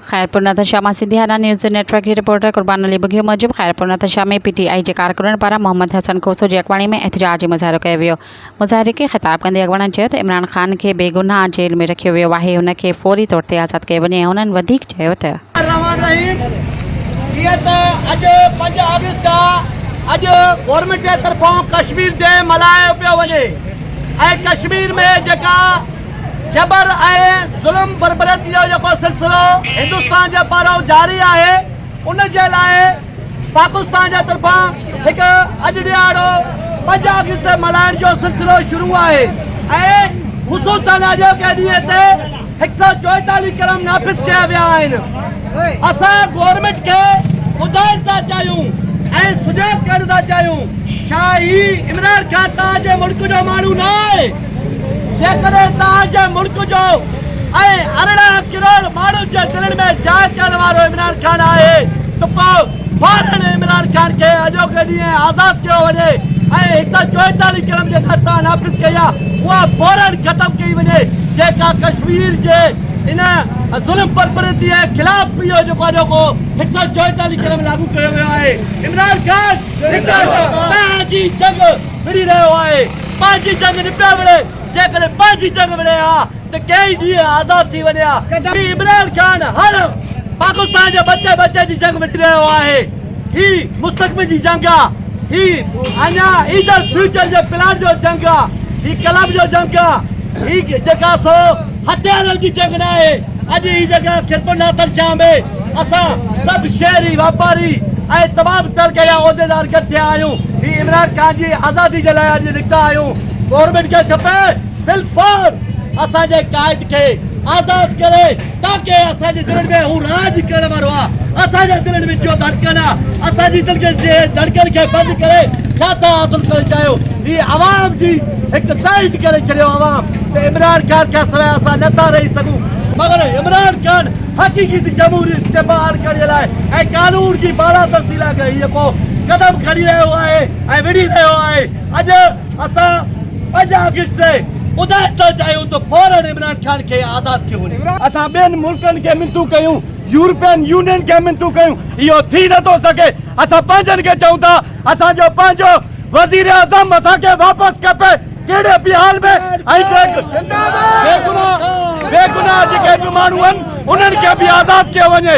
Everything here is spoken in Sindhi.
خيرپور نادرشاهه مان سنڌي هارا نيوز نيٽورڪ جي رپورٽر قربان علي ٻگهيو موجب Khairpur Nadirshah ۾ P T I جي ڪارڪنن پاران محمد حسن کوسو جي اڳواڻي ۾ احتجاج ۽ مظاهرو ڪيو ويو مظاهري کي خطاب ڪندي اڳواڻن چيو ته عمران خان کي بي گناهه جيل ۾ رکيو ويو آهي هن کي فوري طور تي آزاد ڪيو وڃي ۽ هنن وڌيڪ چيو ته الرحمان الرحيم جيئن ته اڄ پنج آگسٽ آهي اڄ گورنمينٽ جي طرفان ڪشمير ڊي ملهايو پيو وڃي ۽ ڪشمير ۾ جيڪا جبر ۽ ظلم بربريت جو جيڪو سلسلو هندستان جي پارو جاري آهي ان جي لاء پاڪستان جي طرفان هڪ اڄ ڏهاڙو پنج آگسٽ تي ملهائڻ جو سلسلو شروع آهي ۽ خصوصن اڄوڪي ڏينهن تي هڪ سؤ چوئيتاليهه قلم نافذ ڪيا ويا آهن اسان گورنمينٽ کي ٻڌائڻ ٿا چاهيون ۽ سڃاڻپ ڪرڻ ٿا چاهيون ڇا هي عمران خان تان جي ملڪ جو ماڻهو نه آهي جيڪڏهن توهان جي ملڪ جو ۽ ارڙهن ڪروڙ ماڻهن جي دلين ۾ جاء ڪرڻ وارو عمران خان آهي ته پوء فورن عمران خان کي اڄوڪي ڏينهن آزاد ڪيو وڃي ۽ هڪ سؤ چوئيتاليهه ڪلم جيڪا توهان نافذ ڪئي آهي اها فورن ختم ڪئي وڃي جيڪا ڪشمير جي ان ظلم پرپرتي جي خلاف پي او جيڪو اڄوڪو هڪ سؤ چوئيتاليهه ڪلم لاڳو ڪيو ويو آهي عمران خان توهان جي جنگ وڙهي رهيو آهي. پنهنجي جنگ نه پيا وڙهي، جيڪڏهن پنهنجي جنگ وڙهي ها ته ڪيئي ڏينهن آزاد ٿي وڃي ها. هي عمران خان هر پاڪستان جي ٻچي ٻچي جي جنگ وڙهي رهيو آهي. هي مستقبل جي جنگ آ. هي اڃا ايجل فيوچر جي پلان جو جنگ آ. هي ڪلب جو جنگ آ. هي جيڪا سو هٿيارن جي جنگ ناهي. اڄ هي جڳهه خدمت ناصر شاهه ۾ اسان سڀ شهري، واپاري ۽ تمام طبقي جا عهديدار گڏ ٿيا آهيون. هي عمران خان جي آزادي جي لاء اڄ نڪتا آهيون. گورنمينٽ کي کپي بالفور اسان جي قائد کي آزاد ڪري تاڪه اسان جي دلين ۾ هو راڄ ڪرڻ وارو آ. اسان جي دلين ۾ جيو ڌڙڪن آ. اسان جي دلين جي ڌڙڪن کي بند ڪري ڇا ٿا حاصل ڪرڻ چاهيو. هي عوام جي هڪ تائيد ڪري ڇڏيو عوام. ته عمران خان کان سواء اسان نه ٿا رهي سگهون، مگر عمران خان حقيقي تي جمهوريت کي بحال ڪرڻ لاء ۽ قانون جي بالادستي لاء ڳهيء ڪو قدم کڻي رهيو آهي ۽ وڙهي رهيو آهي، اڄ اسان پنج آگسٽ تي ٻڌائڻ ٿا چاهيون ته فوراً عمران خان کي آزاد ڪيو وڃي. اسان ٻين ملڪن کي منٿون ڪيون، يورپين يونين کي منٿون ڪيون، اهو ٿي نه ٿو سگهي، اسان پنهنجن کي چئون ٿا، اسان جو پنهنجو وزيراعظم اسان کي واپس کپي، ڪهڙي به حال ۾ بيگناهه جيڪي به ماڻهو آهن انهن کي به آزاد ڪيو وڃي.